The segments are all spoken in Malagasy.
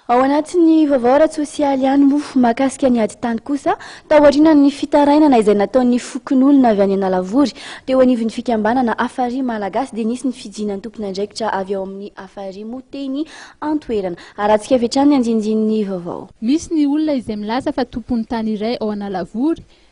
Ao anatin'ny vaovao ara-tsosialy ihany moa mahakasika ny ady tany kosa, tao aorianan'ny fitarainana izay nataon'ny fokonolona avy any Analavory teo anivon'ny fikambanana Afari Malagasy dia nisy ny fijinan'ny tompon'andraikitra avy ao amin'ny Afari moa teny an-toerana. Harahantsika avy hatrany ny andinindininy vaovao. Misy ny olona izay milaza fa tompon'ny tany iray ao Analavory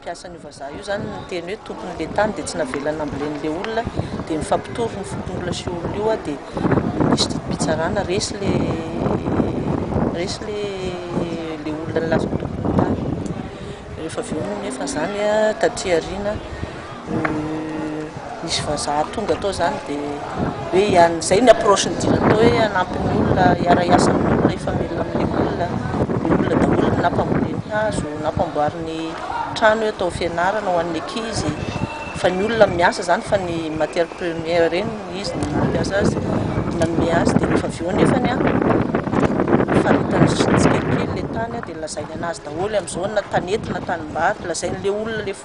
mpiasan'io vazaha io zany no niteny hoe tompon'le tany dia tsy navelany nambolen'le olona dia mifampitory ny fokonolona sy olona io aho dia nisy didim-pitsarana resy le resy le le olona nilaza ho tompon'ny tany rehefa avy eo moa nefa zany taty aoriana Nisy vazaha tonga tao zany de hoe iany zay ny approche ny dina tao hoe hanampy ny olona hiara hiasa amin'ny olona hifamelona amin'ny olona ny olona daholo ny nampamboly ny hazo nampamboary ny trano hoe atao fianarana ho an'ny ankizy fa ny olona miasa zany fa ny matière première reny no izy no nampiasa azy no nanome azy de rehefa avy eo nefany an faritany tsikelikely le tany an de lazainy anazy daholo amizao na tanety na tanimbato lazain'le olona le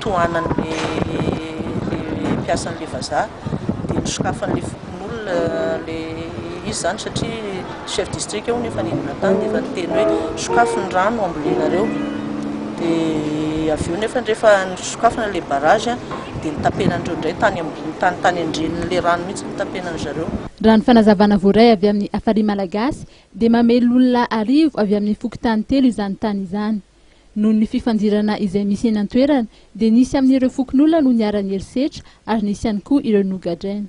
tohanan'ilay mpiasan'ilay vazaha dia nosokafan'ilay fokonolona ilay izy izany satria chef district hono efa nidina tany dia efa niteny hoe sokafy ny rano ambolenareo dia avy eo nefa rehefa nisokafana ilay barrage dia nitapenan'ireo indray tany ambony tany tany andrenin'ilay rano mihitsy nitapenan zareo. Raha ny fanazavana voaray avy amin'ny Afari Malagasy dia mamely olona arivo avy amin'ny fokontany telo izany tany izany. Noho ny fifandirana izay misy eny an-toerana dia nisy amin'ireo fokonolona no niharan'ny herisetra ary nisy ihany koa ireo nogadraina.